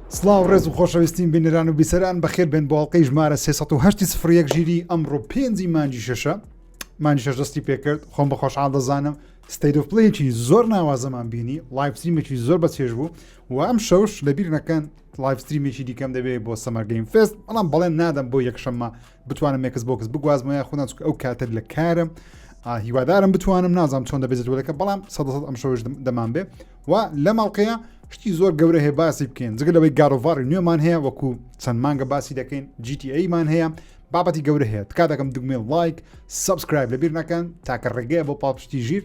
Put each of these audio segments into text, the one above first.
سلااو ڕێز و خۆشەویستین بینران و بیسەران بەخێر بێن بۆڵلقەی ژمارە 1970 سفرەک ژیری ئەمڕۆ پێنجی مانجی شەشە مانجی شەش دەستی پێکرد خۆم بە خۆشحاڵ دەزانم ستەیدۆپلەیەکی زۆر ناوازەمان بینی لایفستریمێکی زۆر بەچێژ بوو و ئەم شەوش لەبیر نەکەن لایفستریمێکی دیکەم دەبێت بۆ سەمەرگەیم فست بەڵام بەڵێن نادەم بۆ یەکشەممە بتوانم مێکس بۆکس بگوازمە یاخودان چکە ئەو کاتر لە کارم هیوادارم بتوانم نازانام چۆن دەبێتەوەەکە بەڵام سە ئەم شەوش دەمان بێ و لە ماڵقەیە شتی زۆر گەورە هەیە باسی بکەین جگە لەوەی گارۆڤاری نوێمان هەیە وەکو چەند مانگە باسی دەکەین GTAمان هەیە بابەتی گەورە هەیە تکا دەکەم دگمێ لایک سبسکرایب لەبیر نەکەن تاکە ڕێگەیە بۆ پاپشتی ژیر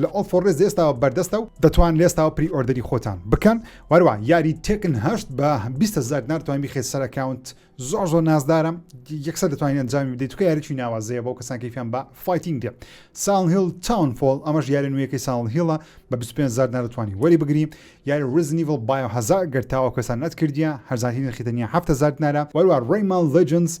لە ئۆفۆڕێس لەئێستاوە بەردەستە و دەتوان لەئێستاوە پری ئۆردەری خۆتان بکەن وەروە یاری تێکن هەشت بە بیست هەزار دینار توانی بیخەیت سەر ئەکاونت زۆر زۆر نازدارم یەکسەر دەتوانین ئەنجامی بدەیت توکە یاریی ناوازەیە بۆ کەسان کەیفیان بە فایتینگ دێ ساڵ هیل تاون فۆل ئەمەش یاری نوێیەکەی ساڵ هیڵە بە 25 هزار دینار دەتوانی وەری بگری یاری ریزنیڤڵ بایۆ هەزار گەر تاوە کەسان نەتکردیە هەرزانترین نرخی تەنیا 7 هزار دینارە وەروە ڕێمان لێجنز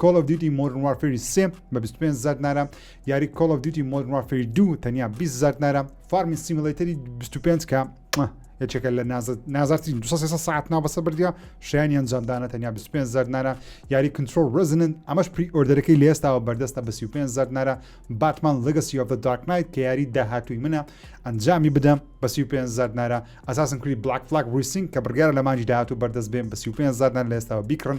کۆڵ ئۆف دیوتی مۆدرن وارفێری سێ بە 25 هزار دینارە یاری کۆڵ ئۆف دیوتی مۆدرن وارفێری دوو تەنیا 20 هزار دینارە فارمی سیمولەیتەری 25 کە یەکێکە لە نازارترین 200 ساعت ناوبەسە بردە شیانی ئەنجامدانە تەنیا 25 زار نارە یاری کنترۆل ڕزنن ئەمەش پری ئۆردەرەکەی لە ئێستاوە بەردەستە بە 25 زار نارە باتمان لەگەسی ئۆف دارک نایت کە یاری داهاتووی منە ئەنجامی بدەم بە 25 زار نارە ئەساسن کری بلاک فلاک ریسینگ کە بڕگارە لە مانجی داهاتوو بەردەست بێن بە 25 زار نار لە ئێستاوە بیکڕن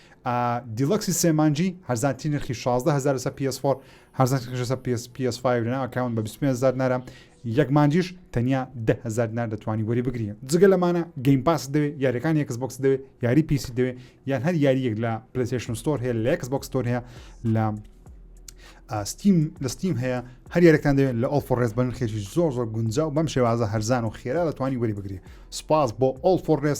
دیلەکسی سێ مانگی هەرزانترین نرخی 16 هەزار لەسەر PS4 هەرزانترین نرخی لەسەر PS PS5 لەناو ئەکاونت بە 25 هەزار دینارە یەک مانگیش تەنیا 10 هەزار دینار دەتوانی وەری بگری جگە لەمانە گەیم پاس دەوێ یاریەکان یەکس بۆکس دەوێ یاری PC دەوێ یان هەر یاری یەک لە پلیسشن ستۆر هەیە لە یەکس بۆکس ستۆر هەیە لە ستیم لە ستیم هەیە هەر یارەکان دەوێت لە ئۆڵ فۆڕێز بە نرخێکی زۆر زۆر گونجا و بەم شێوازە هەرزان و خێرا دەتوانانی وەری بگری سپاس بۆ ئۆڵ فۆڕێز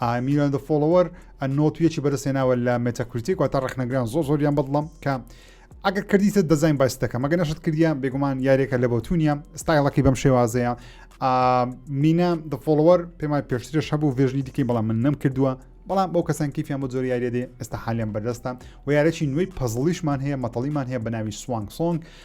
ئای میلیۆن دە فۆڵۆوەر ئە نۆت و یەکی بەرز هێناوە لە مێتاکریتیک واتە ڕەخنەگران زۆر زۆریان بەدڵم کە ئەگەر کردیتە دەزین باس دەکەم مەگە نەشت کردیا بێگومان یاریەکە لە بۆتونیە ستایڵەکەی بەم شێوازەیە مینا دە فۆڵوەر پێمان پێشترش هەبوو ڤێژنی دیکەی بەڵام من نەم کردووە بەڵام بەو کەسان کیفیان بۆ زۆر یاریێ ئێستا حالیان بەردەستە و یارەی نوێی پەزڵیشمان هەیە مەتەڵیمان هەیە بە ناوی سوانگ سۆنگ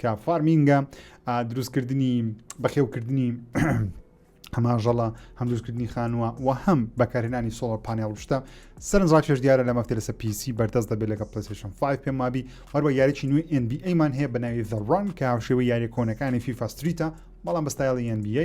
کە فارمینگە دروستکردنی بەخێوکردنی هەماژەڵە هەم دروستکردنی خانووە و هەم بەکارهێنانی سۆڵەر پانێڵ شتە سەرنجڕاکێش دیارە لە مەفتێ لەسە پیسی بەردەست دەبێت لەگە پلسیشن 5 پێم مابی هەروە یاریی نوێ NBA مان هەیە بە ناوی زەڕان کە هاوشێوە یاریە کۆنەکانی فیفاستریتە بەڵام بەستایڵی NBA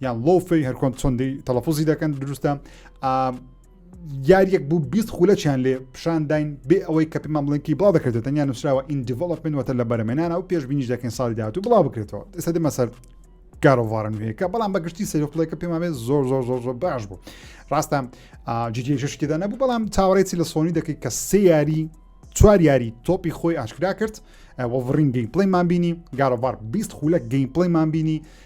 یان لۆفی هەرکۆن چۆندی تەلەفۆزی دەکەن دروستە یاریەک بوو بیست خولەچیان لێ پیشانداین بێ ئەوەی کە پێمان بڵێنکی بڵاو دەکرێت تەنیا نووسراوە ئینجیڤڵپن وەتە لە بەرەمێنانە و پێشبینیش دەکەین ساڵی داات و بڵاو بکرێتەوە ئێستا دەمە سەر گارۆڤارن وەیەکە بەڵام بەگشتی سەرخڵێکە پێمابێت زۆر زۆر زۆر زۆر باش بوو ڕاستە جیشتێدا نەبوو بەڵام چاوەڕێتی لە سۆنی دەکەیت کە سێ یاری چوار یاری تۆپی خۆی ئاشکرا کرد وەڤڕین گەیم پلیمان بینی گارۆڤار 20 خولەک گەیم پلیمان بینی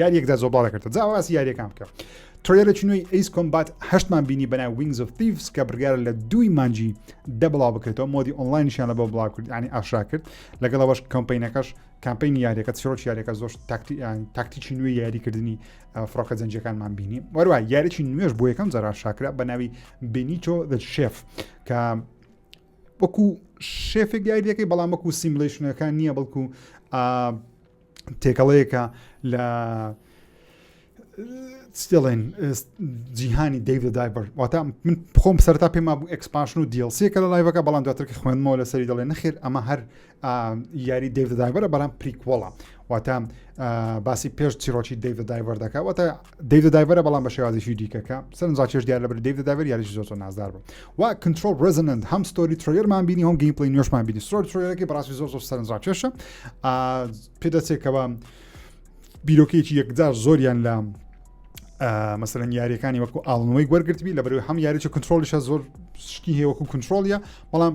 یاریەکدا زۆر باڵە کردە جا باسی یاریەکان بکە ترێلێکی نوێی ئەیس کۆمبات هەشتمان بینی بەناو وینگز و تیفس کە بڕیارە لە دووی مانجی دە بڵاو بکرێتەوە مۆدی ئۆنلاینشیان لە بۆ بڵاو کرد ینی ئاشرا کرد لەگەڵ ئەوەش کەمپینەکەش کامپین یاریەکە چیرۆک یاریەکە زۆر تاکتیکی نوێ یاریکردنی فڕۆکە جەنجەکانمان بینی وەروە یاریی نوێش بۆ یەکەم جارا شاکرا بە ناوی بینیتۆ دە شێف کە وەکو شێفێک یاریەکەی بەڵام وەکو سیملشنەکان نییە بەڵکو تێکەڵەیەکە لە ستێڵێن جیهانی دەیڤ دایبەر واتە من خۆم سەرتا پێما بوو ئەکسپاشن و دیلسیەکە لە لایڤەکە بەڵام دواترکە خوێنمەوە لە سەری دەڵێ نەخێر ئەمە هەر یاری دەیڤ دایبەرە بەڵام پریکوەڵە واتە باسی پێش چیرۆکی دەیڤ دایبەر دەکە واتە دیو دە دایڤەرە بەڵام بە شێوازیشی دیکە کە سەرنجڕاکێش دیار لەبەر دیو دە دایڤەر یاریش زۆر زۆر نازدار بوو و کنترۆل ڕزنند هەم ستۆری ترۆیەرمان بینی هەم گەیم پڵی نوێشمان بینی سۆر ترۆیەکی بەڕاستی زۆر زۆر سەرنجڕاکێشە پێدەچێکەوە بیرۆکەیەکی یەکجار زۆریان لە مەسەرەن یاریەکانی وەکو ئاڵنەوەی وەرگرتبی لە بەرەوەی هەم یاریی کنترۆلیشە زۆر شتی هەیە وەکو کنترۆلیە بەڵام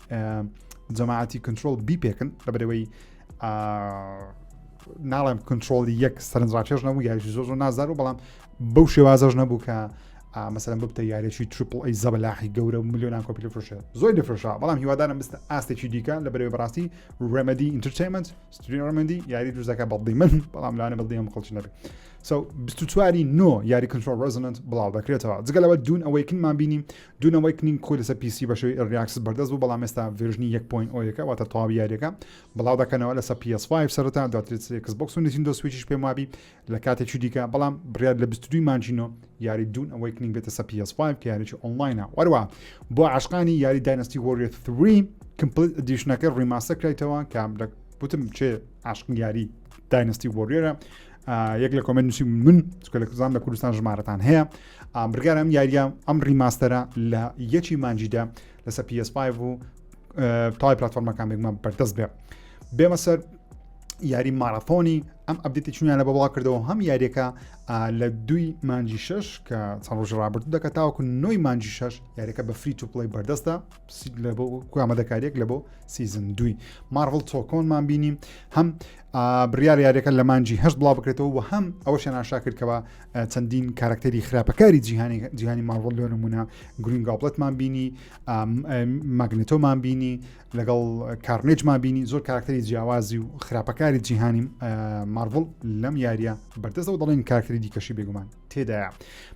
جەماعەتی کنترۆل بیپێکن لەبەرەوەی ناڵێم کنترۆلی یەک سەرنجڕاکێش نەبوو یاریشی زۆر زۆر نازار و بەڵام بەو شێوازەش نەبوو کە مەسەرم ببتە یاریی ترپل ئەی زەبلاحی گەورە و میلیۆنان کۆپی فرشە زۆر دەفرشا بەڵام هیوادارم بستە ئاستێکی دیکە لە بەرەوەی بەڕاستی ڕێمەدی ئینترتەیمنت ستریمەندی یاری دوزەکە بەڵدی من بەڵام لاانە بەڵدی هەم خەڵکی نەبێت سو 24واری نۆ یاری کنترۆل ڕزننت بڵاو دەکرێتەوە جگەلەوە دوون ئەوەی کنمان بینیم دوو نەوەی کنینگ خۆی لەسەر پیسی بە شێوەی ئێرلی ئاکسس بەردەست بوو بەڵام ئێستا ڤێرژنی یەک پۆینت ئۆ یەکە واتە تەواوی یاریەکە بڵاو دەکەنەوە لەسەر پی ئێس فایڤ سەرەتا دواتر لەسەر ئێکس بۆکس و نینتیندۆ سویچیش پێم وابی لە کاتێکی دیکە بەڵام بڕیار لە بیست و دووی مانگی نۆ یاری دوون ئەوەی کنینگ بێتە سەر پی ئێس فایڤ کە یاریی ئۆنلاینە وەروا بۆ عاشقانی یاری داینەستی وۆریەر 3 کمپلیت ئەدیشنەکە ڕیماستەر کرایتەوە کە لە وتم چێ عاشقی یاری داینەستی وۆریەرە یەک لە کۆمنت نووسی من چکە لە کوزان لە کوردستان ژمارەتان هەیە ئامرگارم یاریە ئەم ڕیماستەرە لە یەکی مانجیدا لەسەر PS5 و تای پلتفۆرمەکان بێکمان بەردەست بێ بێمە سەر یاری مارەفۆنی ئەم ئەبدێتی چونیان لە بەڵا کردەوە هەم یاریەکە لە دوی مانجی شش کە چەند ڕۆژ ڕابرد دەکە تاوەکو نوۆی مانجی شش یاریەکە بە فری تو پلی بەردەستە ئامادەکاریەک لە بۆ سیزن دوی مارڤڵ تۆکۆنمان بینیم هەم بڕیار یاریەکە لە مانجی هەست بڵاو بکرێتەوە و هەم ئەوە شەناشا کردکەوە چەندین کارکتەری خراپەکاری جیهانی جیهانی مارڤڵ لۆ نمونە گرین گابلتمان بینی ماگنێتۆمان بینی لەگەڵ کارنێجمان بینی زۆر کارکتەری جیاوازی و خراپەکاری جیهانی مارڤڵ لەم یاریە بەردەستەوە دەڵێن کارکتری دیکەشی بێگومان تێدایە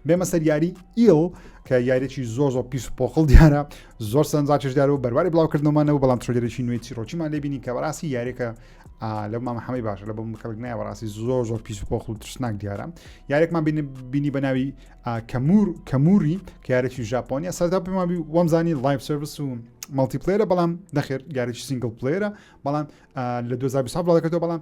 بێمە سەر یاری ئیۆ کە یاریێکی زۆر زۆر پیس و پۆقل دیارە زۆر سەنجاچش دیار و بەرواری بڵاوکردنەوەمانەوە بەڵام ترۆجرێکی نوێی چیرۆکیمان لێبینی کە بەڕاستی یاریەکە لە مامە حەمەی باشە لە بم کەڵک نایە بەڕاستی زۆر زۆر پیس و پۆقل و ترسناک دیارە یارێکمان بینی بە ناوی کەمور کەموری کارێکی ژاپۆنیە سەردا پێمان وەمزانی لایف سرویس و مەڵتی پلێرە بەڵام دەخێر گارێکی سنگل پلێرە بەڵام لە 2020 بڵاوکردەوە بەڵام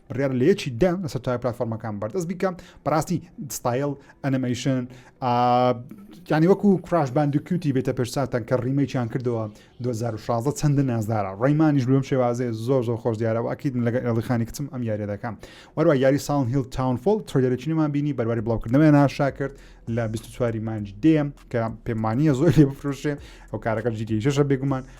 بڕیارە لە یەکی دە لە سەرتای پلتفۆرمەکان بەردەست بیکە بەڕاستی ستایل ئەنەمەیشن یانی وەکو کراش باندکیوتی بێتە پێشساتان کە ڕیمەیان کردەوە 2016 چەندە نازدارە ڕێمانیش بم شێوازێ زۆر زۆر خۆش دیارەوە ئەکیت لەگە ئێڵخانی کچم ئەم یاریە دەکەم وەروە یاری ساڵ هیل تاونفۆل ترۆدەرەچینەمان بینی بەرواری بڵاوکردنەوە ناشا کرد لە 24 مانج دێم کە پێمانە زۆر لێ بفرۆشێ ئەو کارەکە جیگەیشەشە بێگومان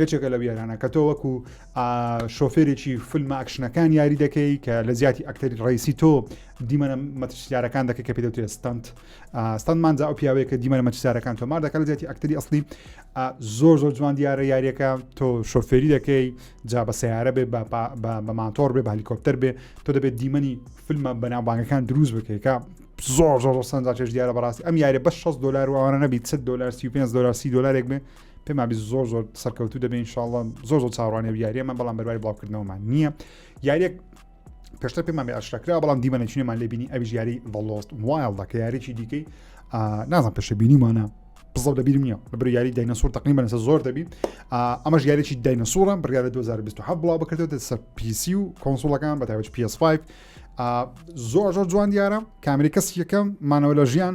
یەکێکە لەو یارانە کە تۆ وەکو شۆفێرێکی فیلمە ئەکشنەکان یاری دەکەی کە لە زیاتی ئەکتەری ڕیسی تۆ دیمەە مەترسیارەکان دەکە کە پێدەوتێ ستند ستندمان جا ئەو پیاوەیە کە دیمەە مەترسیارەکان تۆ مار دەکەن زیاتی ئەکتەری ئەسلی زۆر زۆر جوان دیارە یاریەکە تۆ شۆفێری دەکەی جا بە سیارە بێ بە ماتۆر بێ بە هەلیکۆپتەر بێ تۆ دەبێت دیمەنی فیلمە بەناوبانگەکان دروست بکەیکە زۆر زۆر سەنجاچێش دیارە بەڕاستی ئەم یارە بە 6 دلار وانە نەبیت 100 دلار 35 دلار سی دلارێک بێ پێم وابێ زۆر زۆر سەرکەوتوو دەبێ انشاءاللە زۆر زۆر چاوڕانێ و یاریەمان بەڵام بەروای بڵاوکردنەوەمان نییە یاریەک پێشتر پێمان بێ ئاشراکرا بەڵام دیمە نەچینێمان لێبینی ئەوی ژیاری بەڵۆست وایڵدا کە یاریی دیکەی نازان پێشە بینیمانە بزڵ دەبیرم نیە لە بری یاری داینەسوور تەقنی بەنسە زۆر دەبی ئەمەش یاریی داینەسوورە بڕیا لە 2027 بڵاو بکردێت سەر پیسی و کۆنسوڵەکان بە تاوج PS5 زۆر زۆر جوان دیارە کامری کەس یەکەم مانەوە لە ژیان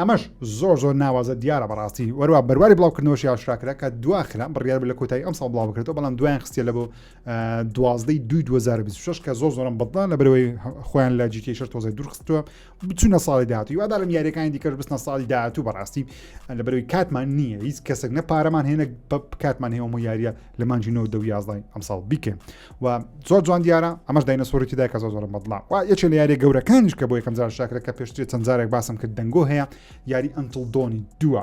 ئەمەش زۆر زۆر ناوازە دیارە بەڕاستی وەروا بەرواری بڵاوکردنەوەشی ئاشراکرا کە دواخرا بڕیار لە کۆتایی ئەم ساڵ بڵاو بکرێتەوە بەڵام دوایان خستە لە بۆ دوازدەی دوی 2026 کە زۆر زۆرم بەڵدا لە برەوەی خۆیان لە جیتی شەر تۆزای دوورخستووە بچونە ساڵی داهاتی وادارم یاریەکانی دیکەش بستنە ساڵی داهاتوو بەڕاستی لە برەوەی کاتمان نییە هیچ کەسێک نە پارەمان هێنە بە کاتمان هێوەمە یاریە لە مانجی 19 دوازدای ئەم ساڵ بیکەین و زۆر جوان دیارە ئەمەش داینە سۆری تیدا کە زۆر زۆر بەڵام و یەکێ لە یاری گەورەکانیش کە بۆ یەکەم جار شاکرە کە پێشترێت چەند جارێک باسم کرد دەنگۆ هەیە یاری ئەنتڵ دۆنی دووە.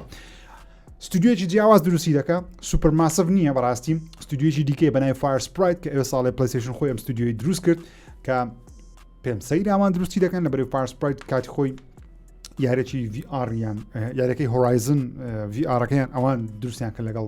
ستودیوێکی جیاواز دروستی دەکە سوپەر ماسف نییە بەڕاستی ستودیوێکی دیکەی بەنای فارس پرایت کە ئێ ساڵی پلیسیشن خۆی ئەم ستودیوی دروست کرد کە پێم سەیراوان دروستی دەکەن لە بەرەی فارس پرایت کاتی خۆی یارێکی VRیان یارەکەی هۆرایزن VRەکەیان ئەوان دروستیان کە لەگەڵ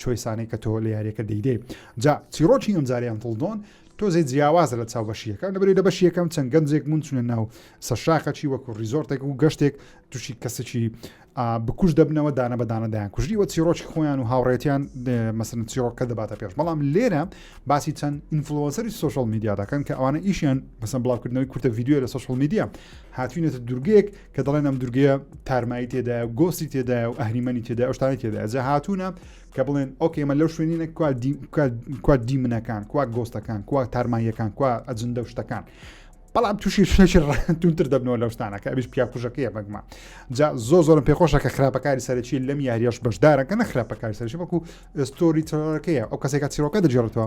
چۆیسانەی کە تۆ لە یاریەکە دەیدەی جا چیڕۆکی ئەمجارەی ئەنتڵدۆن تۆزێ جیاوازە لە چاو بەشیەکە لەبری لە بەشیەکەم چەند گەنجێک بوون چونە ناو سەرشاخەچی وەکو ریزۆرتێک و گەشتێک تووشی کەسێکی بکوش دەبنەوە دانە بەدانە دایان کوژی وە چیرۆکی خۆیان و هاوڕێتیان مەسن چیرۆکە دەباتە پێش بەڵام لێرە باسی چەند ئینفلۆسەری سوۆشل میدیا دەکەن کە ئەوانە ئیشیان بەسم بڵاوکردنەوەی کورتە یددیو لە سوۆشل میدیا هاتوینێتە دوورگەیەک کە دەڵێن ئەم دورگەیە تارمایی تێدایە گۆسی تێدایە و ئەهریمەنی تێدا ئەوشتانی تێدایە جە هاتوونە کە بڵێن ئۆکێمە لەو شوێنینە کوا دیمنەکان کوا گۆستەکان کوا تارماییەکان کوا ئەجندە شتەکان بەڵام تووشی شێکی ڕانتونتر دەبنەوە لەو شتانەکە ئەویش پیاکوژەکەیە بەگمە جا زۆ زۆرم پێخۆشە کە خراپەکاری سەرەکی لەم یاریش بەشدارە کە نە خراپەکاری سەرشی بەکو ئستۆری تەکەیە ئەو کەسێکە چیرۆکە دەجێڕێتەوە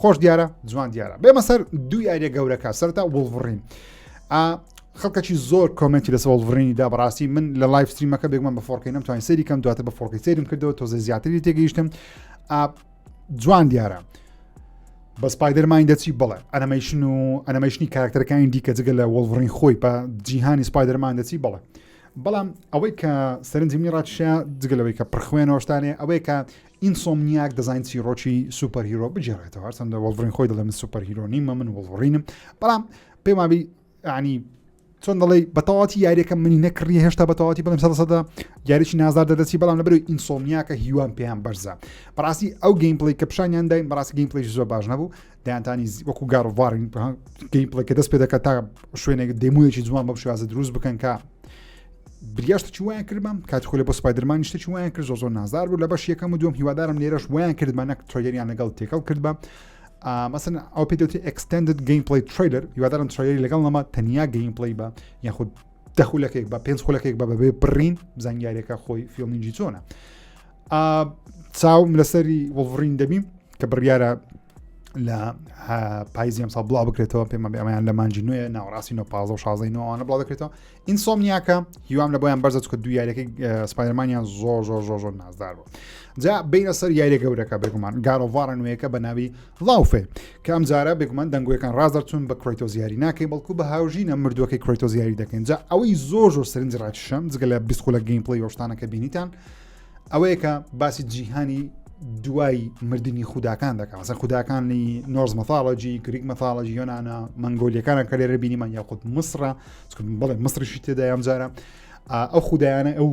خۆش دیارە جوان دیارە بێمە سەر دوو یاریە گەورەکە سەرتا وڵڤڕین خەڵکەی زۆر کۆمنتی لە سەوڵڤڕینی دا بەڕاستی من لە لایف ستریمەکە بێگومان بە فۆرکی نم توانین سەری کەم دواتە بە فۆرکی سەیرم کردەوە تۆزە زیاتری تێگەیشتم جوان دیارە بە سپایدەرمانی دەچی بڵێ ئەنەمەیشن و ئەنەمەشنی کارکتەرەکانی دیکە جگە لە وەڵڤڕین خۆی بە جیهانی سپایدەرمان دەچی بڵێ بەڵام ئەوەی کە سەرنجمی ڕاتشە جگەلەوەی کە پرخوێنەوەشتانێ ئەوەی کە ئینسۆمنیاک دەزانین چیڕۆکی سوپەر هیرۆ بگێڕێتەوە هەرچەندە وەڵڤڕین خۆی دەڵێ من سوپەر هیرۆ نیمە من وەڵڕینم بەڵام پێم وابی عنی چۆن دەڵێ بەتەواتی یاریەکە منی نەکڕی هێشتا بەتەواتی بڵم سەدە یاریی نازار دەدەچی بەڵام لە بەرەوەی ئینسۆمیاکە هیوام پێیان بەرزە بەڕاستی ئەو گەیمپلی کە پیشانیان داین بەڕاستی گەیمپلیش زۆر باش نەبوو دەیانتانی وەکو گار وارین گەی پڵێکە دەست پێ دەکات تا شوێنێک دەمویەکی جوان بەم شێوازە دروست بکەن کە بریاشتە چی وایان کردمان کات خۆلی بۆ سپایدرمان نیشتە چی وایان کرد زۆ زۆر نازار بوو لە بەش یەکەم و دوم هیوادارم لێرەش وایان کردمانە تۆگەریان لەگەڵ تێکەڵ کردبە مەسن ئەو پێ دەوتی ئەکسستندد گەیم پلی تریلر هیوادارم تریلی لەگەڵ نەما تەنیا گەیم پلی بە یاخود دەخولەکەێک بە پێنج خولەکەێک بە بەبێ بڕین زانیارێکە خۆی فیلمینجی چۆنە چاوم لەسەری وڵڕین دەبیم کە بڕیارە لە پایزی ئەمسا بڵاو بکرێتەوە پێمە بێمایان لە مانجی نوێ ناوڕاستی نۆ پازە و شازی نوانە بڵاو دەکرێتەوە ئینسۆمنیاکە هیوام لە بۆیان بەرزە چکە دو یاریەکەی سپایرمانیان زۆر زۆر زۆر زۆر نازدار بوو جا بینە سەر یاریە گەورەکە بێگومان گارۆڤارە نوێیەکە بە ناوی لاوفێ کە ئەم جارە بێگومان دەنگۆیەکان ڕاز دەرچون بە کرۆیتۆ زیاری ناکەی بەڵکو بە هاوژینە مردوەکەی کرۆیتۆ زیاری دەکەین جا ئەوەی زۆر زۆر سرنج ڕاکیشم جگە لە بیسکۆلە گەیم پلی شتانەکە بینیتان ئەوەیە کە باسی جیهانی دوای مردنی خوداکان دەکەن سە خوداکانی نۆز مەفاڵەجی گریک مەفاڵەجی یۆنانا منگۆلیەکانە کە لێرە بینیمان یاخود مسرە بڵێ مسرشی تێدا یان جارە ئەو خودایانە ئەو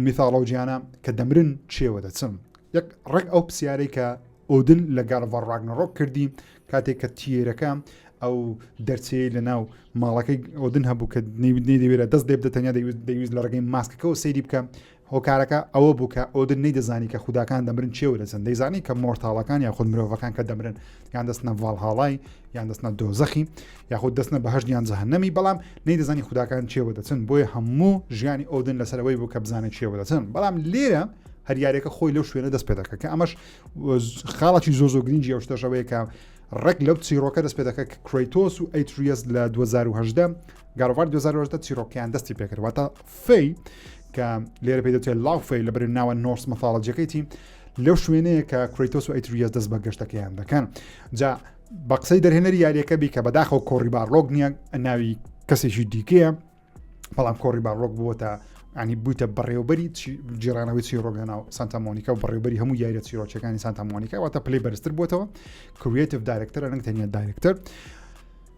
میثالۆجییانە کە دەمرن چێوە دەچم یەک ڕێک ئەو پرسیارەی کە ئۆدن لە گالڤەر ڕاگنەڕۆک کردی کاتێک کە تیرەکە ئەو دەرچەیە لە ناو ماڵەکەی ئۆدن هەبوو کە نەیدەوێت دەست دێ بدەتەنیا دەویست لە ڕگەی ماسکەکەەوە سەیری بکە هۆکارەکە ئەوە بوو کە ئۆدن نەیدەزانی کە خوداکان دەمرن چێوە دەچن، دەیزانی کە مۆرتاڵەکان یاخود مرۆڤەکان کە دەمرن یان دەستنە ڤاڵهاڵای یان دەستنە دۆزەخی یاخود دەستنە بەهەشت یان جەهەنەمی بەڵام نەیدەزانی خوداکان چێوە دەچن بۆیە هەموو ژیانی ئۆدن لەسەرەوەی بوو کە بزانێت چێوە دەچن بەڵام لێرە هەریارەکە خۆی لەو شوێنە دەست پێ دەکە کە ئەمەش خاڵەکی زۆ زۆ گرنگی ئەو شتەشەوەیە کە ڕێک لەو چیرۆکە دەست پێ دەکە کرۆیتۆس و ئەیتریەس لە 2010 گاروار 2010 چیرۆکیان دەستی پێکردواتە فەی کە لێرە پێ دەوتێت لاو فەی لە بەرێ ناوە نۆرس مەفاڵەجەکەیتی لەو شوێنەیە کە کرۆیتۆس و ئەیتریەس دەست بە گەشتەکەیان دەکەن جا بە قسەی دەرهێنەری یاریەکە بی کە بەداخەوە کۆڕی بارڕۆک نییە ناوی کەسێکی دیکەیە بەڵام کۆڕی بارڕۆک بووە تا ینی بوویتە بەڕێوبەری جیرانەوەی چیرۆک لەناو سانتامۆنیکا و بەڕێوبەری هەموو یاریە چیرۆچەکانی سانتامۆنیکا واتە پلی بەرزتر بووەوە کریتیف دارکتەر ئەنگ تەنیا دارکتەر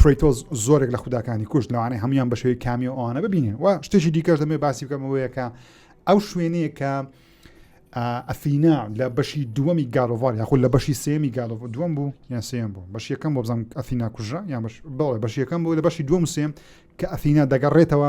کریتۆز زۆرێک لە خوداکانی کوشت لەوانەیە هەموان بە شێوی کامی و ئەوانە ببینین و شتێکی دیکەش دەمێ باسی بکەمەوەیەکە ئەو شوێنەیە کە ئەفینا لە بەشی دووەمی گالۆڤار یاخود لە بەشی سێمی گالۆڤ دووەم بوو یان سێم بوو بەشیەکەم بۆ بزانم ئەفینا کوژە یان بەڵێ بەشیەکەم بوو لە بەشی دووەم سێم کە ئەفینا دەگەڕێتەوە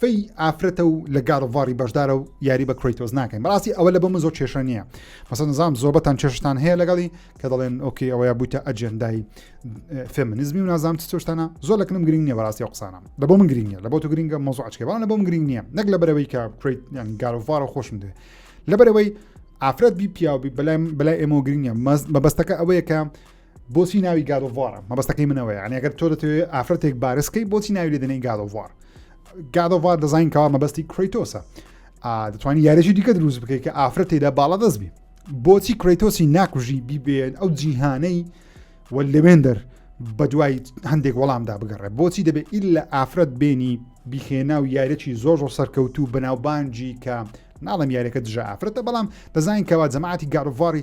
فەی ئافرەتە و لە گارڤاری بەشدارە و یاری بە کرۆیتۆز ناکەین بەڕاستی ئەوە لە بە من زۆر کێشە نییە مەسەن نظام زۆربەتان کێشتان هەیە لەگەڵی کە دەڵێن ئۆکی ئەوەیە بوویتە ئەجێندای فێمنزمی و نازام چۆشتانە زۆر لەکنم گرنگ نیە بەڕاستی و قسانە لە بۆ من گرنگە لە بۆ تو گرنگە مۆزوعچکە بەڵام لە بۆم گرنگ نییە نەک لە بەرەوەی کە کرێت یان گارڤارە خۆشم دێ لە بەرەوەی ئافرەت بی پیاوبی بەلای بەلای ئێمە گرنگە مەبەستەکە ئەوەیە کە بۆچی ناوی گاد ئۆف وارە مەبەستەکەی منەوەی یان ئەگەر تۆ دەتەوێت ئافرەتێک بارسکەی بۆچی ناوی لێ دەنێی گاد ئۆف وار گاد ئۆف وار دەزانین کەوا مەبەستی کرۆیتۆسە دەتوانانی یارێکی دیکە دروست بکەیت کە ئافرەت تێدا باڵا دەست بی بۆچی کرۆیتۆسی ناکوژی بیبێن ئەو جیهانەی وە لەوێندەر بە دوای هەندێک وەڵامدا بگەڕێ بۆچی دەبێت ئیل لە ئافرەت بێنی بیخێنا و یارێکی زۆر زۆر سەرکەوت و بەناوبانجی کە ناڵم یارەکە دژە ئافرەتە بەڵام دەزانین کەوا جەماعتی گاروڤاری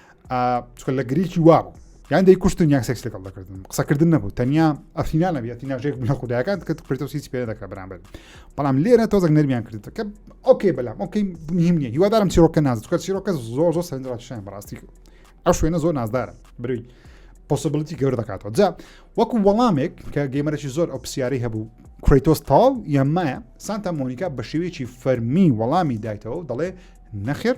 چکە لە گرێکی وابوو یان دەی کوشتن یان سێکس لەگەڵ دەکردن قسەکردن نەبوو تەنیا ئەفینا نەبیێتی ناژێک بە خوددایەکان کە پرتۆ هیچ پێ دەکە بەرامبەر بەڵام لێرە تۆزەک نەرمیان کرد کە ئۆکەی بەلام ئۆکەی مهم نیە هیوادارم چیرۆکە نازکە چیرۆکە زۆر زۆر سندراشیان بەڕاستی ئەو شوێنە زۆر نازدارم بروی پۆسبلتی گەور دەکاتەوە جا وەکو وەڵامێک کە گەیمەرەی زۆر ئەو پرسیارەی هەبوو کریتۆس تاڵ یان مایە سانتا مۆنیکا بە شێوەیەکی فەرمی وەڵامی دایتەوە دەڵێ نەخێر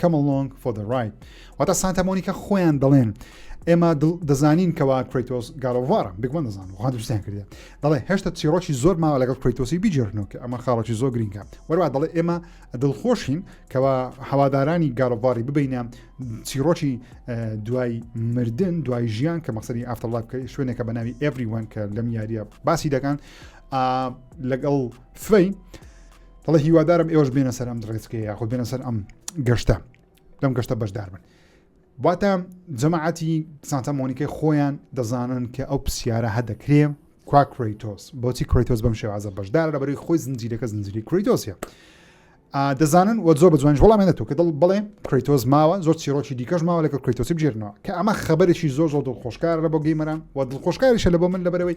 Come along for the ride واتا سانتا مۆنیکا خۆیان دەڵێن ئێمە دەزانین کەوا کریتۆس گالۆڤارە بگومە دەزان وهادوستیان کردێ دەڵێ هێشتا چیرۆکی زۆر ماوە لەگەڵ کریتۆسی بیجێرنەوە کە ئەمە خاڵکی زۆر گرنگە وەروا دەڵێ ئێمە دڵخۆشین کەوا هەوادارانی گالۆڤاری ببینە چیرۆکی دوای مردن دوای ژیان کە مەسەری ئافتەڵات بکە شوێنێکە بە ناوی ئەڤریوان کە لەم یاریە باسی دەکەن لەگەڵ فەی دەڵێ هیوادارم ئێوەش بێنە سەر ئەم ڕێچکەیە یاخود بێنە سەر ئەم گەشتە لەم گەشتە بەشدار بن واتە جەماعەتی سانتا مۆنیکای خۆیان دەزانن کە ئەو پرسیارە هەدەکرێ کوا کریتۆس بۆچی کریتۆس بەم شێوازە بەشدار لە بەری خۆی زنجیرەکە زنجری کریتۆسە دەزانن و زۆر بە جوانش وڵامێنە تو کە دڵ بڵێ کریتۆز ماوە زۆر چیرۆکی دیکەش ماوە لەگە کریتۆسی بژێرنەوە کە ئەمە خبرێکی زۆر زۆر دڵخۆشکارە بۆ گەیمەران و دڵخۆشکاریشە لە بۆ من لەبەرەوەی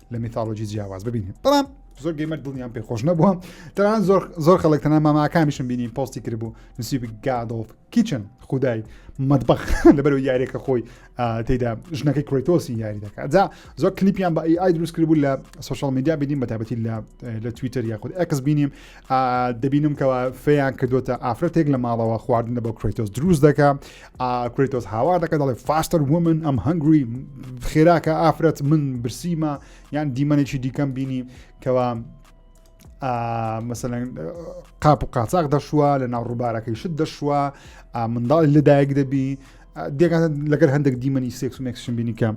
لە میتالۆجی جیاواز ببینین بەڵام زۆر گەیمەر دڵنیان پێ خۆش نەبووە تەران زۆر زۆر خەڵک تەنە ماماکانیشم بینی پۆستی کردبوو نسیب گادۆڵ کیچن خودای مەدبخ لەبەر یاریەکە خۆی تێدا ژنەکەی کرۆیتۆسی یاری دەکات جا زۆر کلیپیان بە ئای دروست کردبوو لە سوشال میدیا بینیم بە تابەتی لە لە تویتەر یاخود ئەکس بینیم دەبینم کەەوە فێیان کردوتە ئافرەتێک لە ماڵەوە خواردنە بۆ کرۆیتۆس دروست دەکە کرەیتۆس هاوار دەکە دەڵێ فاستەر ومن ئەم هەنگری خێراکە ئافرەت من برسیمە یان دیمەنێکی دیکەم بینی کەوا مەسەن قاپ و قاچاق دەشوە لە ناو ڕووبارەکەی شت دەشوە منداڵی لەدایک دەبی دێکان لەگەر هەندێک دیمەنی سێکس و مێکسشن بینی کە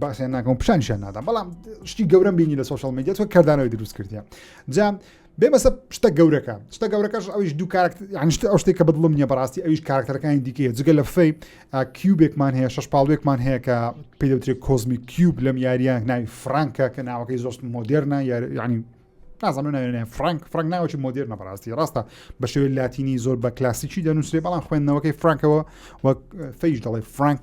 باسیان ناکەم پیشانشان نادەم بەڵام شتی گەورم بینی لە سوۆشال میدیا تۆ کردانەوەی دروست کردیان جام بێ بەسە شتە گەورەکە شتە گەورەکەش ئەویش دوو کارکتر یانشت ئەو شتێک کە بدڵم نیە بەڕاستی ئەویش کارکتەرەکانی دیکەیە جگە لە فەی کیوبێکمان هەیە شش پاڵوێکمان هەیە کە پێدەوترێ کۆزمی کیوب لەم یاریان ناوی فرانکە کە ناوەکەی زۆست مۆدررنا یاریانی نازانم ناوێنە فرانک فرانک ناوەی مۆدیر نەبڕاستی ڕاستە بە شێوەی لاتینی زۆر بە کلاسیکی دەنووسێ بەڵام خوێندنەوەکەی فرانکەوە وەک فەیش دەڵێ فرانک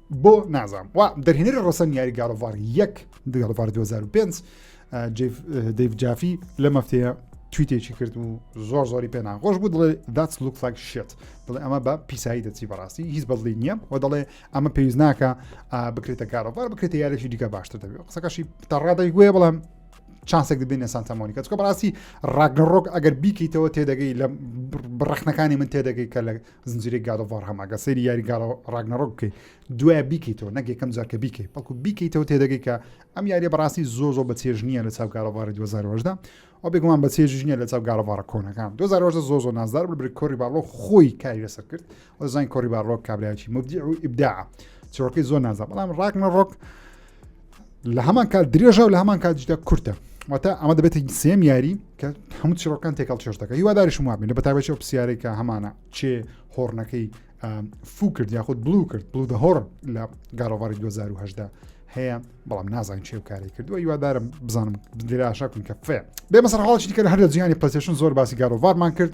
بۆ نازام وا دەرهێنەری ڕسەن یاری گاڵڤار یەک دگەڵڤار 2005 دەیف جافی لە مەفتەیە تویتێکی کرد و زۆر زۆری پێ ناخۆش بوو دڵێ داچ لوک فلاک شێت دڵێ ئەمە بە پیسایی دەچی بەڕاستی هیچ بەڵی نییە و دەڵێ ئەمە پێویست ناکە بکرێتە کارەوار بکرێتە یارێکی دیکە باشتر دەبێت قسەکەشی تەڕادای گوێ بڵام چانسێک دەبێنە سانتەمۆنی کە چکە بەڕاستی ڕاگەڕۆک ئەگەر بیکەیتەوە تێدەگەی لە بڕەخنەکانی من تێدەگەی کە لە زنجیرەی گاد ئۆف وار هەم ئەگەر سەیری یاری گاد ڕاگنەڕۆک بکەیت دوای بیکەیتەوە نەک یەکەم جار کە بیکەیت بەڵکو بیکەیتەوە تێدەگەی کە ئەم یاریە بەڕاستی زۆر زۆر بە چێژ نییە لە چاو گارەواری 2010دا ئەو بێگومان بە چێژ نییە لە چاو گارەوارە کۆنەکان 2010 زۆر زۆر نازدار بر بری کۆری باڵۆ خۆی کاری لەسەر کرد ئەوزانین کۆری باڕۆک کابراایکی مبدی و ئیبدا چۆکەی زۆر نازە بەڵام ڕاکنە ڕۆک لە هەمان کات درێژە و لە هەمان کاتیشدا کورتە واتە ئەمە دەبێت سێم یاری کە هەموو چیڕۆکان تێکەڵ چێش دەکە هیوادارشم وابین لە بەتابەتی ئەو پرسیارەی کە هەمانە چێ هۆڕنەکەی فو کرد یاخود بلو کرد بلو دە هۆڕ لە گاڕۆڤاری 2010 هەیە بەڵام نازانین چێ و کاری کردووە یوادارم بزانم دراشا کن کە فێ بێ مەسەر حاڵی کە هەر لە جیانی پلسیشن زۆر باسی گاڕۆڤارمان کرد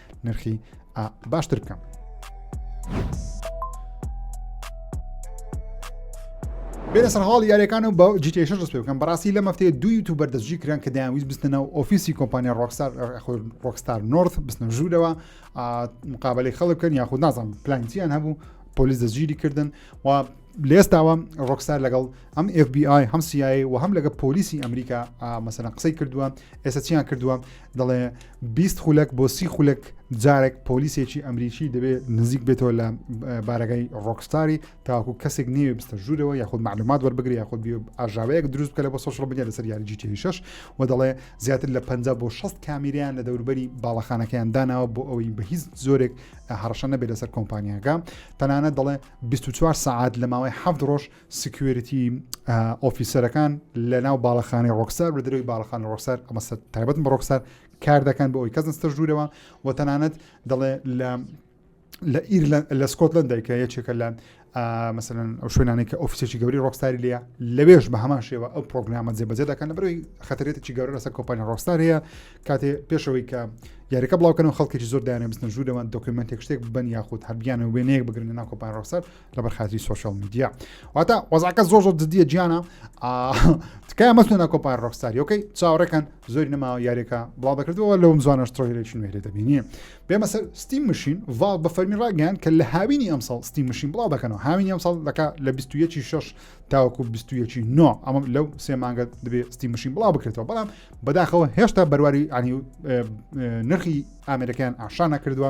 نرخی باشتر بکەم. بێنە سەر هاڵ یاریەکان و بە جیتێشن ڕست بکەم بەڕاستی لە مەفتەیە دوو یوتوب بەردەستجی کران کە دایانویست بستنە و ئۆفیسی کۆمپانیا ڕۆکسار ڕۆکستار نۆرت بستنە ژوورەوە مقابلەی خەڵک بکەن یاخود نازان پلانسییان هەبوو پۆلیس دەستگیری کردن و لێستاوە ڕۆکسار لەگەڵ ئەم FBI هەم سیایی و هەم لەگە پۆلیسی ئەمریکا مەسەن قسەی کردووە ئێستا چیان کردووە دەڵێ بیست خولەک بۆ سی خولەک جارێک پۆلیسێکی ئەمریکی دەبێت نزیک بێتەوە لە بارەگای ڕۆکستاری تاکو کەسێک نێوێ بستە ژوورەوە یاخود معلومات وەربگری یاخود ئاژاوەیەک دروست بکە لە بۆ سۆشڵ بنیە لەسەر یاری جیتی شش و دەڵێ زیاتر لە 50 بۆ 6 کامیریان لە دەوربەری باڵەخانەکەیان داناوە بۆ ئەوەی بە هیچ زۆرێک هەڕشە نەبێت لەسەر کۆمپانیاکە تەنانە دەڵێ 24 سعات لە ماوەی هەفت ڕۆژ سکیۆریتی ئۆفیسەرەکان لە ناو باڵەخانەی ڕۆکسار لە درەوی باڵەخان ڕۆکسار ئەمەسە تایبەت بە ڕۆکسار کار دەکەن بۆ ئەوی کەس نستە ژوورەوە و تەنانەت دەڵێ لە لە ئیرلە لە سکۆتلند دایکە یەکێکە لە مەسەن ئەو شوێنانی کە ئۆفیسێکی گەوری ڕۆکستاری لە لەوێش بە هەمان شێوە ئەو پرۆگرامە جێبەجێ دەکەن لە بەروی خەترێتێکی گەورە لەسەر کۆپانی ڕۆکستار هەیە کاتێ پێشەوەی کە یاریەکە بڵاوکەن و خەڵکێکی زۆر دایانە بستن ژوورەوە دۆکیومنتێک شتێک بن یاخود هەبیانە وێنەیەک بگرن ناو کۆپان ڕۆکسار لەبەر خاتری سوۆشال میدیا واتە وەزعکە زۆر زۆر جددیە گیانە تکای مەستو ناکۆپار ڕۆکستاری ئۆکەی چاوەڕێکەن زۆری نەما یاریەکە بڵاو دەکردەوە لەوم زوانە شتۆیلشن وێرێ دەبینی بێمە سەر ستیم مشین ڤاڵ بە فەرمی ڕاگەیان کە لە هاوینی ئەمساڵ ستیم مشین بڵاو دەکەنەوە هاوینی ئەمساڵ دەکا لە 21 شش تاوەکو 21 نۆ ئەمە لەو سێ مانگە دەبێت ستیم مشین بڵاو بکرێتەوە بەڵام بەداخەوە هێشتا بەرواری ئەنی نرخی ئامرەکەیان ئاشان نەکردووە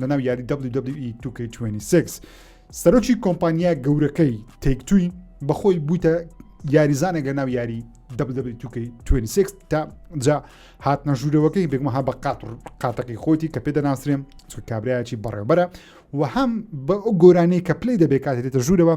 لەناو یاری WWE 2K26 سەرۆکی کۆمپانیا گەورەکەی تێکتوی بەخۆی بووتە یاریزانێک لە ناو یاری WWE2K26 تا جا هاتنە ژوورەوەکەی بێگمەها بە قاتڕ قاتەقی خۆتی کە پێ دەناسرێن چ کابراایکی بەڕێبەرە و هەم بە ئەو گۆرانەی کە پلی دەبێت کاتێتە ژوورەوە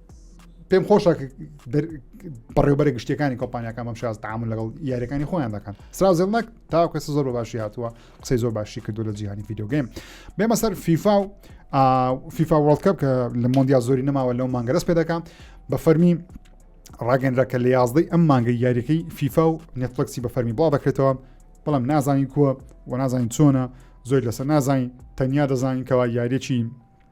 پێم خۆشە بەڕێوبەرە گشتەکانی کۆمپانیەکان بەم شاز تامون لەگەڵ یاریەکانی خۆیان دەکەن سراوزلناک تاکە زۆر بە باشی هاتووە قسەی زۆر باشی کردو لە جیهانی یددیوگەیم بێمە سەر فیفا و فیفا وڵکەپ کە لە مۆندیا زۆری نەماوە لەو مانگەرەس پێ دەکەم بە فەرمی ڕاگەنرا کە لە یازدەی ئەم مانگە یاریەکەی فیفا و نێتفلکسی بە فەرمی بڵا دەکرێتەوە بەڵام نازانین کووە و نازانین چۆنە زۆر لەسەر نازانین تەنیا دەزانین کەوا یاریەکی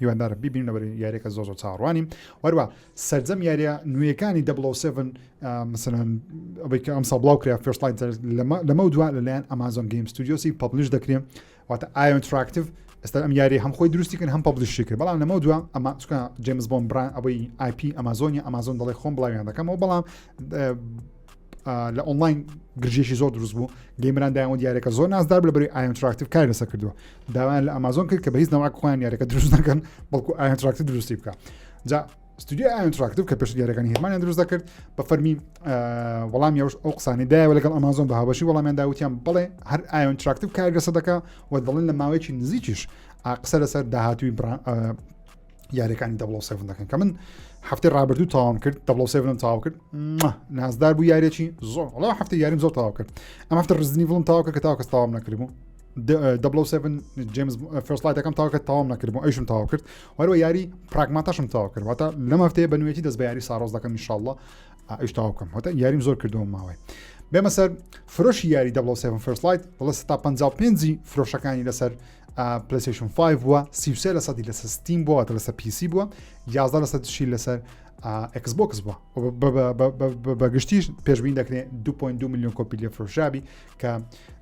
هیواندارم بیبینم لەبەر یاریەکە زۆ زۆر چاڕوانی وەروە سرجەم یاریە نوێەکانی دە مثلەن ئەوەی کە ئەمسا بڵاو کرا فێشتڵین لەمە دو لەلایەن ئەمازۆن گەیم ستودیۆسی پبلیش دەکرێن واتە ئایۆن تراکتیو ئێستا ئەم یاری هەم خۆی دروستیکن هەم پبلیشی کرد بەڵام لەمە دووە ئەمە چکە جیمز بۆم بران ئەوەی آیپی ئەمازۆنی ئەمازۆن دەڵی خۆم بڵاویان دەکەمەوە بەڵام لە ئۆنلاین گرژێکی زۆر دروست بوو گەیمران دایەوە دیارەکە زۆر نازدار لە بری ئایتراکتیف کار لەسەر کردووە داوایان لە ئامازۆن کرد کە بە هیچ ناواک خۆیان یارەکە دروست نەکەن بەڵکو ئایتراکتی دروستی بکە جا ستودیو ئایتراکتیف کە پێش دیارەکانی هێمانیان دروست دەکرد بە فەرمی وەڵام یاوش ئەو قسانی دایەوە لەگەڵ ئەمازۆن بە هاوبەشی وەڵامیان داوتیان بڵێ هەر ئایۆن تراکتیف کارگەسە دەکە و دەڵێن لە ماوەیەکی نزیکیش قسە لەسەر داهاتوی یاریەکانی دەبڵ سێڤن دەکەن کە من هەفتی ڕابردوو تاوام کرد دەبڵ سێڤنم تاو کرد نازدار بوو یارێکی زۆر وڵا هەفتی یاریم زۆر تاوا کرد ئەم هەفتە ڕزنی بڵم تاوا کرد کە تاوکە تاوام نەکردبوو دەبڵ سێڤن جیمز فستلایتەکەم تاوکە تاوام نەکردبوو ئەیشم تاوا کرد وەروە یاری پراگماتەشم تاوا کردواتە لەم هەفتەیە بە نوێتی دەست بە یاری ساڕۆز دەکەم میشاءله ئەیش تاوا بکەم هەتا یاریم زۆر کردەوە ماوەی بێمە سەر فرۆشی یاری دەبڵ سێڤن فستلایت بڵە ستا 55 فرۆشەکانی لەسەر پلیسیشن 5 بووە 33 لە سەدی لەسەر ستیم بووە واتە لەسەر پیسی بووە 11 لە سەدشی لەسەر ئەکس بۆکس بووە بەگشتیش پێشبین دەکرێت 2.2 میلیۆن کۆپی لێ فرۆشابی کە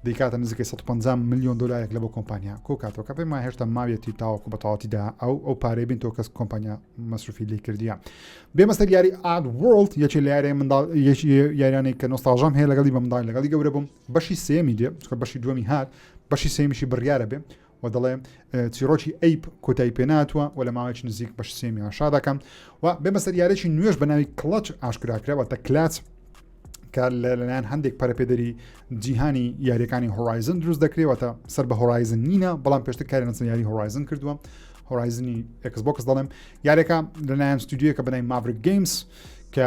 دیکاتە نزیکەی 150 میلیۆن دلارێک لە بۆ کۆمپانیا کۆکاتەوە کە پێما هێشتا ماویەتی تاوەکو بە تەواوتیدا ئەو ئەو پارەی بین تۆ کەس کۆمپانیا مەسروفی لی کردیە بێمەسەر یاری ئاد وڵت یەکی لە یاری منداڵ یەکی یاریانێک کە نۆستاژەم هەیە لەگەڵی بە منداڵ لەگەڵی گەورە بووم بەشی سێمی دێ بەشی دووەمی هات بەشی سێمیشی بڕیارە بێ و دەڵێ چیرۆکی ئەیپ کۆتایی پێناتوە و لە ماوەیەکی نزیک بەش سێمی ئاشا دەکەم و بێمە سەر یارێکی نوێش بە ناوی کڵچ ئاشکراکراوە تە کلاچ کە لەلایەن هەندێک پەرپێدەری جیهانی یاریەکانی هۆرایزن دروست دەکرێتە سەر بە هۆرایزن نینە بەڵام پێشتە کاری نەچن یاری هۆرایزن کردووە هۆرایزنی ئەکسبکس دەڵێم یارێکە لەلایەن ستودیوەکە بەنای ماڤرک گەیمس کە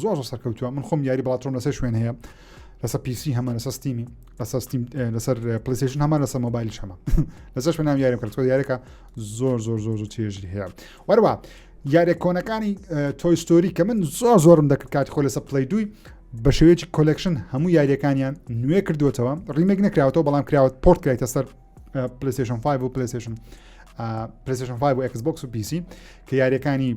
زۆر زۆر سەرکەوتووە من خۆم یاری بڵاتۆم لەسەر شوێن هەیە لەسەر پیسی هەمان لەسەر ستیمی لەسەر ستیم لەسەر پلیسیشن هەمان لەسەر مۆبایل شەمە لەسەر شوێن نام یارم کردکۆ یارەکە زۆر زۆر زۆر زۆر چێژی هەیە وەروە یارە کۆنەکانی تۆیستۆری کە من زۆر زۆرم دەکرد کاتی خۆ لەسەر پلی دوی بە شێوەیەکی کۆلکشن هەموو یاریەکانیان نوێ کردوێتەوە ڕیمێک نکراوەوە بەڵام کراوە پۆرت کرایتە سەر پلیسیشن 5 و پلیسیشن پلیسیشن 5 و Xbox و پیسی کە یاریەکانی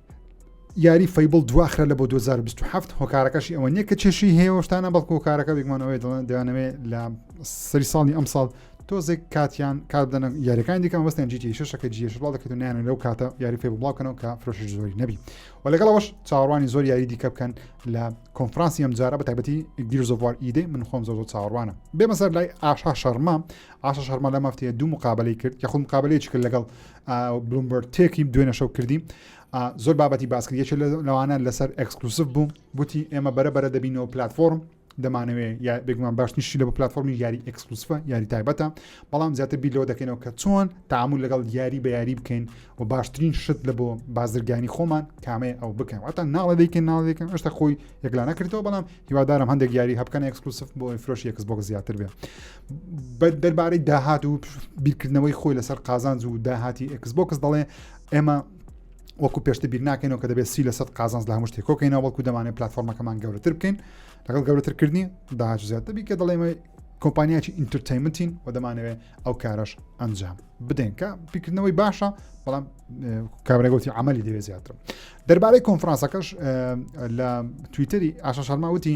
یاری فەیبڵ دواخرا لە بۆ 2027 هۆکارەکەشی ئەوە نییە کە چێشی هەیەشتانە بەڵک هۆکارەکە بگمانەوەی دڵن دەیانەوێ لە سەری ساڵی ئەم ساڵ تۆزێک کاتیان کار بدەن یاریەکان دیکەم وەستیان جیتی شەکە جیش بڵاو دەکەێت نیان لەو کاتە یاری فێ بڵاوکەنەوە کە فرۆشی زۆری نەبی و لەگەڵەوەش چاڕوانی زۆر یاری دیکە بکەن لە کۆنفرانسی ئەم جارە بە تایبەتی گیرزۆوار ئیدەی من خۆم زۆ چاڕوانە بێمەسەر لای ئاشا شەرما ئاشا شەرما لە مافتەیە دوو مقابلەی کرد یخود مقابلەیەکی کرد لەگەڵ بلومبەرتێکی دوێنە شەو کردی زۆر بابەتی باسکرد یەکێ لەوانە لەسەر ئەکسکلوسف بوو گوتی ئێمە بەرە بەرە دەبینەوە پلتفۆرم دەمانەوێ یا بێگومان باش نیشتی لە پلتفۆرمی یاری ئەکسکلوسفە یاری تایبەتە بەڵام زیاتر بیلەوە دەکەینەوە کە چۆن تعامل لەگەڵ یاری بە یاری بکەین و باشترین شت لە بۆ بازرگانی خۆمان کامەیە ئەو بکەن واتە ناڵە دەیکەن ناڵێکن ئەشتا خۆی یەکلانە کردەوە بەڵام هیوادارم هەندێک یاری هەبکەن ئەکسکلوسف بۆ فرۆشی ئەکسبۆک زیاتر بێ دەربارەی داهات و بیرکردنەوەی خۆی لەسەر قازانج و داهاتی ئەکس بۆکس دەڵێ ئێمە وەکو پێشتە بیر ناکەینەوە کە دەبێت سی لە سەد قازانس لە هەمشتێک کۆکەینەوە بەڵکو دەمانێت پلتفۆرمەکەمان گەورەتر بکەین لەگەڵ گەورەترکردنی داهاج زیاتر بیکە دەڵێمە کۆمپانیاکی ئینترتەیمنتین و دەمانەوێت ئەو کارەش ئەنجام بدەین کە پیکردنەوەی باشە بەڵام کابرەگوتی عملی دەوێت زیاتر دەربارەی کۆنفرانسەکەش لە تویتری ئاشە شەرماوتی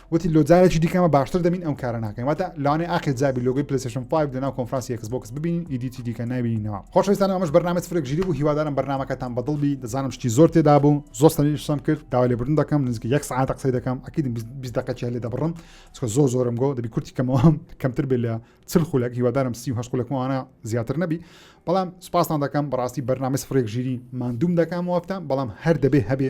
وتی لۆ جارێکی دیکەمە باشتر دەبین ئەم کارە ناکەین واتە لەوانێ ئاخر جابی لۆگەی پلیسشن 5 لەناو کۆنفرانسی یەکس بۆکس ببین ئیدیتی دیکە نبینەوە خۆشەویستان ئەمەش بەرنامەی فرێک ژیری بوو هیوادارم بەرنمەکەتان بەدڵ بی دەزانم شتی زۆر تێدا بوو زۆر سەریشتم کرد داوا لێبوردن دەکەم نزیک یەک سعات قسەی دەکەم ئەکیدم 20 دقەکی هەلێ دەبڕم چکە زۆر زۆرم گۆ دەبی کورتی کەمەوەم کەمتر بێ لە چل خولەک هیوادارم سی هەش خولەکمانە زیاتر نەبی بەڵام سپاسان دەکەم بەڕاستی بەرنامەی فرێک ژیری مادوم دەکەم وەفتان بەڵام هەر دەبێ هەبێ